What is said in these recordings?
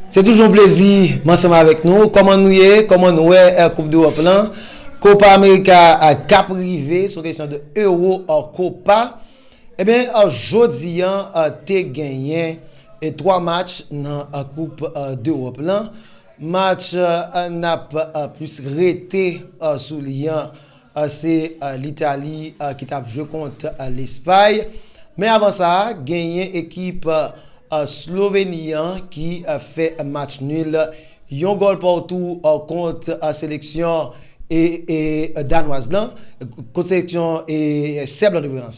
Se toujou yon plezi m ansanm avèk nou. Kòman nou ye? Kòman nou wè Koup Dewòp lan? Copa America k ap rive, se yon kesyon de Euro Copa. Ebyen, jodi an te genyen 3 match nan Koup Dewòp lan. Match n ap plis rete sou li an. Se Litali ki tap jwe kont Lespay. Men avan sa, genyen ekip Sloveni an ki fè match nul yon gòl patou kont seleksyon Danwaz lan, kont seleksyon Sèb lan.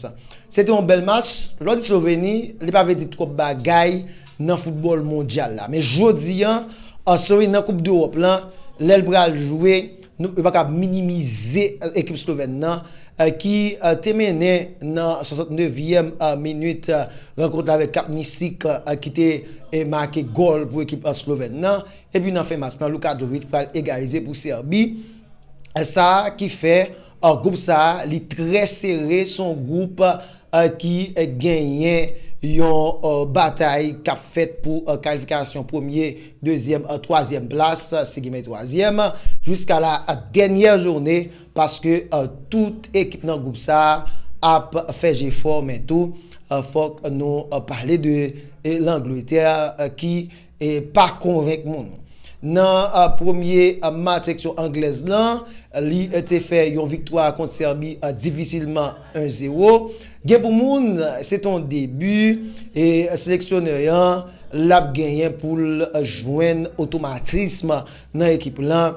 Se te yon bèl match. Lè w di Sloveni, li pa vle di twòp bagay nan foutbòl mondyal la. Men jodi an, Sloveni nan koup dEròp lan, lè l pral jwe. Nou pa ka minimize ekip slovèn nan ki te mennen nan 69 yèm minit rankont la avèk Kapnisik ki te make gòl pou ekip slovèn nan. Epi nan fen match nan Luka Jovic pral egalize pou Sèbi. Sa ki fè gwoup sa li trè sere son gwoup. ki genyen yon batay k ap fèt pou kalifikasyon premye, dezyèm, twazyèm plas, si gen men twazyèm, jiska la dènyè joune paske tout ekip nan gwoup sa a ap fè jefò men tou fòk nou pale de Langletè ki E pa konvenk moun. Nan premye match seksyon anglèz lan, li te fè yon viktwa kont Sèbi difisilman 1 0. Gen pou moun se te yon debi e seleksyonè an l ap genyen pou l jwenn otomatism nan ekip lan.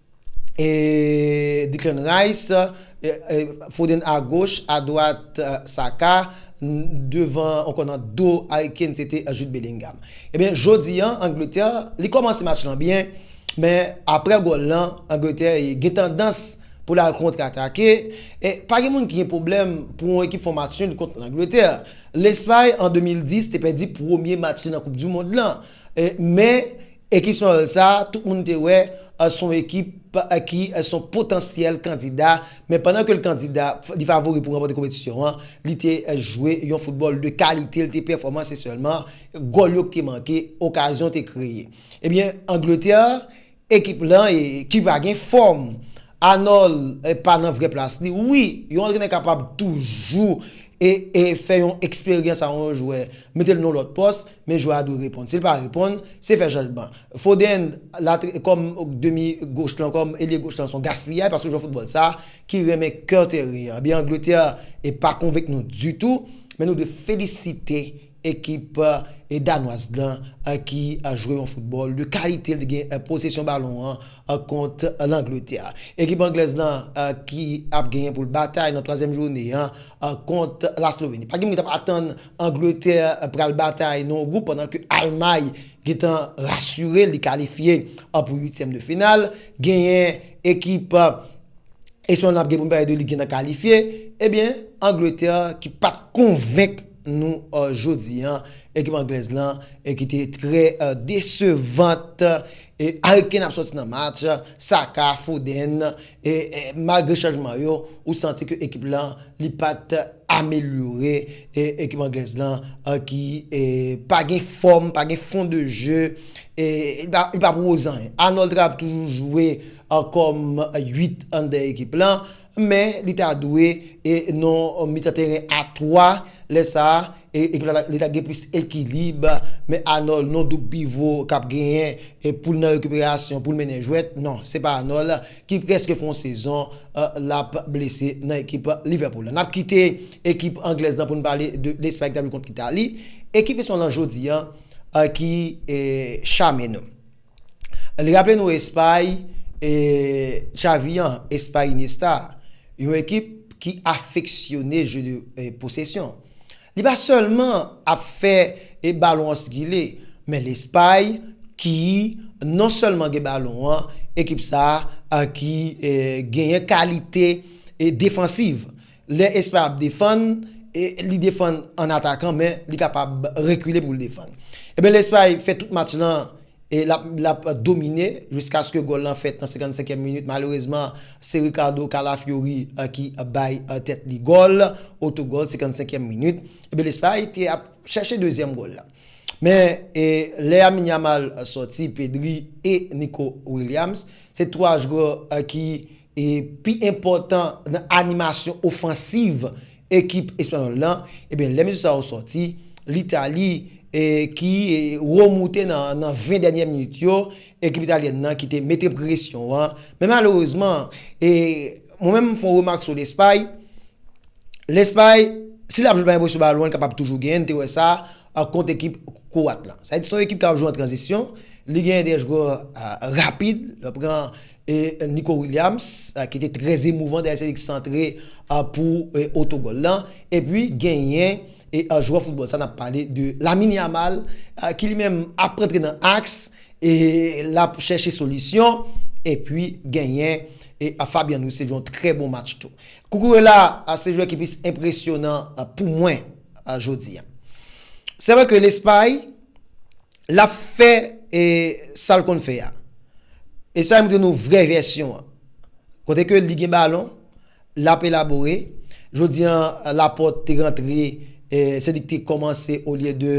Declan Rice, Foden a goch, a dwat Saka, devan ankò nan do Harry Kane se te Jude Bellingham. Ebyen eh jodi an Angletè li kòmanse match lan byen men aprè gòl lan Angletè gen tandans pou l al kontre atake e pa gen moun ki gen pwoblèm pou yon ekip fè yon match nul kont Angletè. Lespay an 2010 te pèdi premye match li nan koup dimond lan. Men, ekip Snorel sa, tout moun te wè, se yon ekip ki se yon potansyèl kandida, men pandan ke l kandida, li favori pou ranpòte konpetisyon an, li te jwe yon foutbòl de kalite, li te pèfòman, se sèlman gòl yo ki te manke, okazyon te kreye. Ebyen, Angletè. Ekip lan e ki pa gen fòm. Anòl pa nan vrè plas li. Wi, yon antrenè kapab toujou e e fè yon eksperyans a yon jwè, mete l nan yon lòt pòs, men jwè a dwe reponn. Si l pa reponn, se fè chanjman. Foden la kòm demi goch lan, kòm elye goch lan se yon gaspiyay paske jwè foutbòl sa ki renmen kè teren an. Ebyen Angletè e pa konvenk nou ditou, men nou dwe felisite Ekip Danwaz lan ki jwe yon foutbòl de kalite li gen posesyon balon an kont Langletè. Ekip Anglèz lan ki ap genyen pou l batay nan twazyèm joune an kont Lasloveni. Pa gen moun ki t ap atann Angletè pral batay nan yon gwoup pandan ke Almay gen tan rasire l li kalifye pou uityèm de final. Genyen ekip Espay lan ap gen pou n pale de li gen tan kalifye. Ebyen Angletè ki pa t konvenk. nou jodi an ekip anglèz lan ki te trè desevant e Harry Kane ap sòti nan match, Saka, Foden e malgre chanjman yo ou santi ke ekip lan li pat amelyore e ekip anglèz lan ki pa gen fòm, pa gen fon de je e li pa pwouve anyen. Arnold ap toujou jwe kòm 8 an dèyè ekip lan. Men li ta dwe nan mitan teren a 3, lè sa a ekip la li ta gen plis ekilib, men Anòl non doub pivo k ap genyen pou l nan rekiperasyon pou l mennen jwèt, non se pa Anòl ki prèske fè yon sezon l ap blese nan ekip Livèpoul la. N ap kite ekip anglèz lan pou n pale de Lespay ki ta jwe kont Itali, ekip espanyon lan jodi a ki chame nou. Li raple nou Espay, Xavi an, Espay Iniesta, yon ekip ki afeksyone je de posesyon. Li pa sèlman ap fè e balon an sikile, men Lespay ki non sèlman gen balon an, ekip sa ki genyen kalite defansiv. Lè espè ap defann, li defann an atakan men li kapab rekile pou l defann. Ebyen lè espè fè tout match lan lap domine jiskaske gòl lan fèt nan 55 èm minit malerezman se Ricardo Calafiori ki bay tèt li gòl, otogòl 55 èm minit. Ebyen lè espè te ap chèche dezyèm gòl la. Men lè Lamine Yamal sòti, Pedri e Nico Williams se 3 jwè ki. e pi enpòtan nan animasyon ofansiv ekip espanyòl la, ebyen lè mesye sa yo sòti, Litali ki remoute nan 20 dènyè minit yo, ekip italyèn nan ki te mete presyon an, men malerezman, e mwen menm m fè yon remak sou Lespay, Lespay, si l ap jwe l pa gen presyon balon, l kapab toujou genyen, n te wè sa kont ekip Kwat la. Sa vle di se yon ekip k ap jwe an tranzisyon, li genyen de jwè rapid, l ap pran Nico Williams ki te trè emouvan dèyè se li ki santre pou otogòl lan. Epi genyen jwè foutbòl sa n ap pale de Lamine Yamal ki li menm ap rantre nan aks e l ap chèche solisyon. Epi genyen Fabian Ruiz se yon trè bon match tou. Cucurella se jwè ki plis enpresyonan pou mwen jodi a. Se vre ke Lespay. lap fè e sal konn fè a e sa yo moutre nou vrè vèsyon an kote ke li gen balon lap elabore jodi an lapòt te rantre e se li ki te kòmanse olye de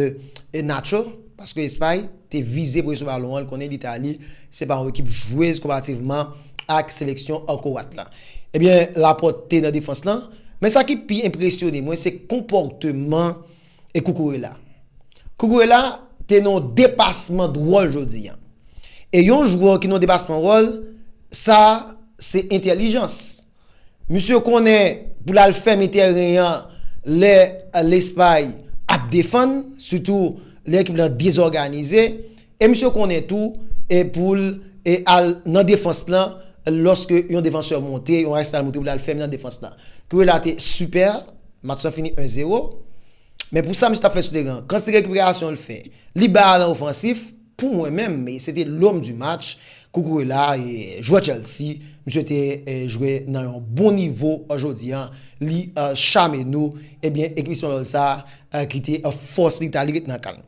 e natcho paske espay te vize pou e sou balon an konnen litali se pa yon ekip jwez konpativman ak seleksyon an kowat la ebyen lapòt te nan defans lan men sa ki pi enpresyone mwen se konpòteman e Koukourela. Koukourela te nan yon depasman de wòl jodi a. E yon jwè ki nan yon depasman de wòl, sa se entèlijans. Misye konnen pou l al fèmen tèren an lè Lespay ap defann, sitou lè ekip la dezòganize. E misye konnen tou e poul e al nan defans lan loske yon defansè monte, yon Arsenal monte poul al fèmen nan defans lan. Cucurella te super, match lan fini 1 zero, men pou sa misye tap fè sou teren an, kantite rekiperasyon l fè, li bay alan ofansif, pou mwen menm e se te l'homme du match, Cucurella e jwè Chelsea, misye te jwe nan yon bon nivo jodi an, li chame nou, ebyen ekip espanyòl sa ki te fòs li ta li ret nan kan l.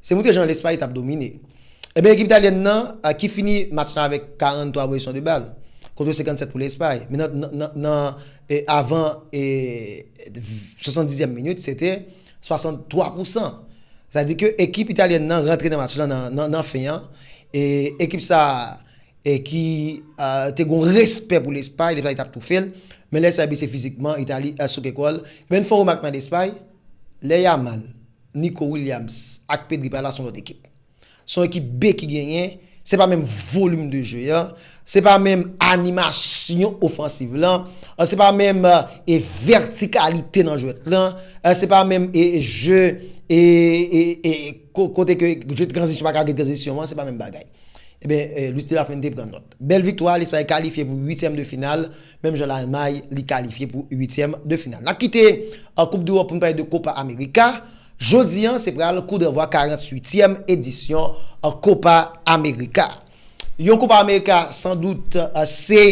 Se moute jan Lespay tap domine. Eben ekip Italyèn nan ki fini match la avèk 43 pozisyon de bal, kontre 57 pou Lespay. Men nan avan 70 ème minit se te 63 pousan. Sa di ke ekip Italyèn nan rantre nan match la nan fen an. E ekip sa ki te gon respè pou Lespay, Lespay tap toufe l. Men Lespay blese fizikman, Italy souke kò l. Men fon remak nan Lespay, lè Yamal. Nico Williams ak Pedri pa la son lòt ekip. Son ekip B ki genyen, se pa menm volim de jwe an, se pa menm animasyon ofansiv lan, se pa menm e vètikalite nan jwèt lan, se pa menm e jwe e kote ke jwe tranzisyon pa ka gen tranzisyon an, se pa menm bagay. Eben, Luis de la Fuente pran nòt. Bèl viktwa, Lespay kalifye pou uityèm de final Menm jan Lalmay, li kalifye pou uityèm de final. N ap kite Koup Dewòp pou n pale de Kopa Amerika. Jodi an, se pral koudranvwa 48 tyèm edisyon Kopa Amerika. Yon Kopa Amerika san dout se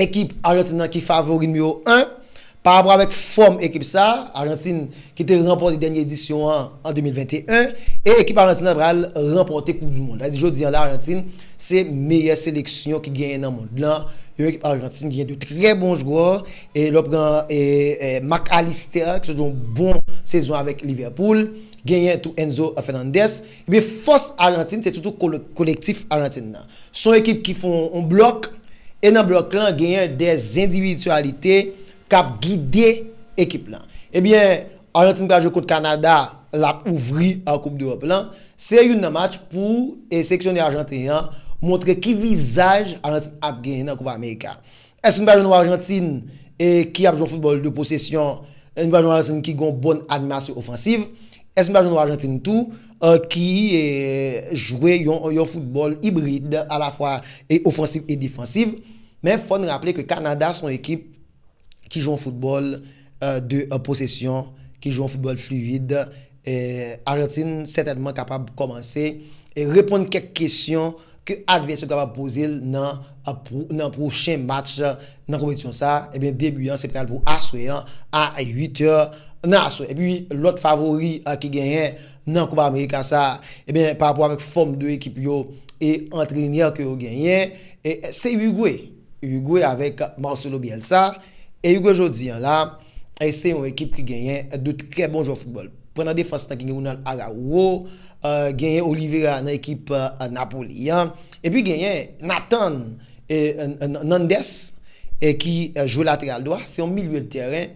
ekip Ajantin nan ki favori nimewo 1. Parapò avèk fòm ekip sa a, Ajantin ki te ranpòte dènye edisyon an an 2021, e ekip Ajantin an pral ranpòte koup du mond. Sa vle di jodi an la Ajantin se meyè seleksyon ki genyen nan mond lan. Yon ekip Ajantin ki gen 2 trè bon jwè, e lè w pran Mac Allister ki sot yon bon sezon avèk Liverpool, genyen tou Enzo Fernandez, Ebyen fòs Argentine se toutou kolektif Argentine nan. Se yon ekip ki fè yon blòk, e nan blòk lan genyen de zendividyalite k ap gide ekip lan. Ebyen Argentine pral jwe kont Kanada, l ap ouvri koup dEròp lan. Se youn nan match pou seleksyonè ajanten an montre ki vizaj Argentine ap genyen nan koupa amerika. Èske n pa jwenn yon Arjantin ki ap jwe yon foutbòl de posesyon, n pa jwenn yon Arjantin ki gen yon bon animasyon ofansiv, èske n pa jwenn yon Arjantin tou ki jwe yon foutbòl ibrid alafwa ofansiv e defansiv? Men fò n raple ke Kanada se yon ekip ki jwe yon foutbòl. 2 an posesyon, ki jwe yon foutbòl fluid, Arjantin sètènman kapab kòmanse reponn kèk kesyon ke advès yo kapab poze l nan pwochen match nan konpetisyon sa. Ebyen 2 bi an se pral pou aswè an a 8 è nan aswè. Epi lòt favori ki genyen nan Kopa Amerika sa, ebyen parapò avèk fòm 2 ekip yo e antrenè ke yo genyen, se Urugwe. Uruguay avèk Marcelo Bielsa e Uruguay jodi an la se yon ekip ki genyen 2 trè bon jwè foutbòl. Pran nan defans lan ki gen Ronald Araujo, genyen Oliveira nan ekip Napoli an, epi genyen Nathan Nandez ki jwe lateral dwa, se yon milye de tèren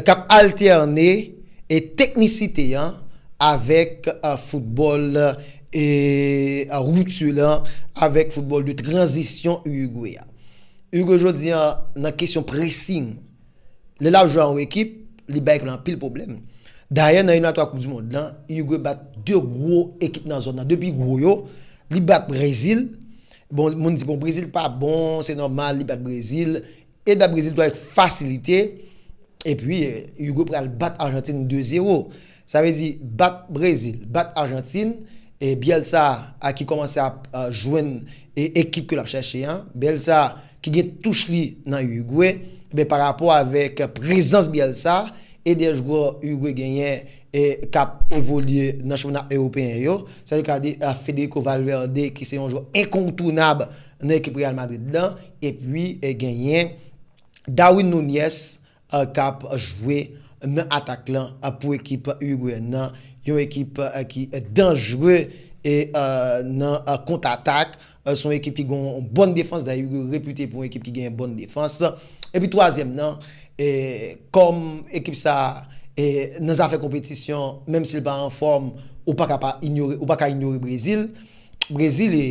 K ap altène teknisite an avèk foutbòl rupture lan avèk foutbòl de tranzisyon Urugwe a. Urugwe jodi an nan kesyon pressing, lè l ap jwe a yon ekip, li bay ekip lan anpil pwoblèm. Dayè nan eliminatwa koup di mond lan, Urugwe bat 2 gwo ekip nan zòn nan, 2 pi gwo yo, li bat Brezil, bon moun di bon Brezil pa bon, se nòmal li bat Brezil. E da Brezil tou avèk fasilite. E pi Uruguay pral bat Arjantin 2 zero. Sa vle di bat Brezil, bat Arjantin. E Bielsa a ki kòmanse ap jwenn ekip ke l ap chèche an. Bielsa ki gen touch li nan Uruguay. Ebyen pa rapò avèk prezans Bielsa e 2 jwè Uruguay genyen e k ap evolye nan chanpyona ewopeyen yo. Sa vle di Federico Valverde ki se yon jwè enkontounab. nan ekip Real Madrid nan epi genyen Darwin Nunez kap jwe nan atak lan pou ekip Urugweyen nan, yon ekip ki danjre nan kont atak, se yon ekip ki gen yon bòn defans, dayè Urugwe repite pou yon ekip ki gen bòn defans, epi twazyèm nan kòm ekip sa nan zafè konpetisyon menm si l pa anfòm ou pa ka inyore Brezil. Brezil e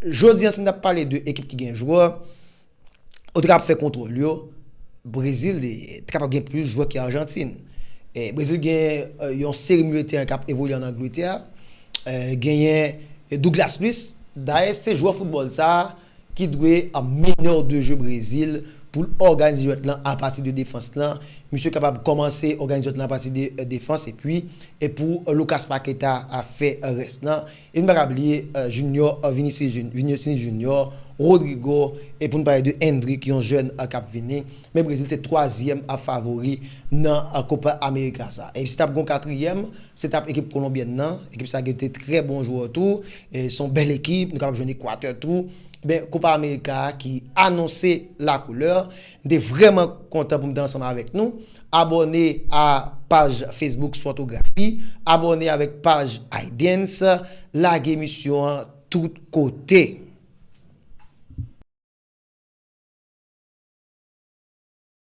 Jodi an si n ta pale de ekip ki gen jwè Ou te kapab fè kontwòl yo Brezil te kapab gen plis jwè ke Arjantin Brezil gen yon seri milye teren k ap evolye an Angletè Genyen Douglas Luiz Dayè se jwè foutbòl sa ki dwe meneur de jeu Brezil pou l òganize jwèt lan apati de defans lan. Misye kapab kòmanse òganize jwèt lan apati de defans epi pou Lucas Paqueta fè rès lan. E nou pa ka bliye Junior Vinicius Junior, Rodrygo e pou n pale de Endrick yon jèn k ap vini. Men Brezil se twazyèm favori nan Copa America sa. E si t ap gen yon katriyèm, se t ap ekip kolonbyèn nan. Ekip sa gen de trè bon jwè tou. Se yon bèl ekip, nou kapab jwenn Ekwatè tou. Ben, Kopa Amerika a ki anonse lakoulè. M te vrèman kontan pou m te ansanm avèk nou. Abòne a paj Facebook Spòtografi. Abòne avèk paj Aydens. Lage emisyon an tout kote.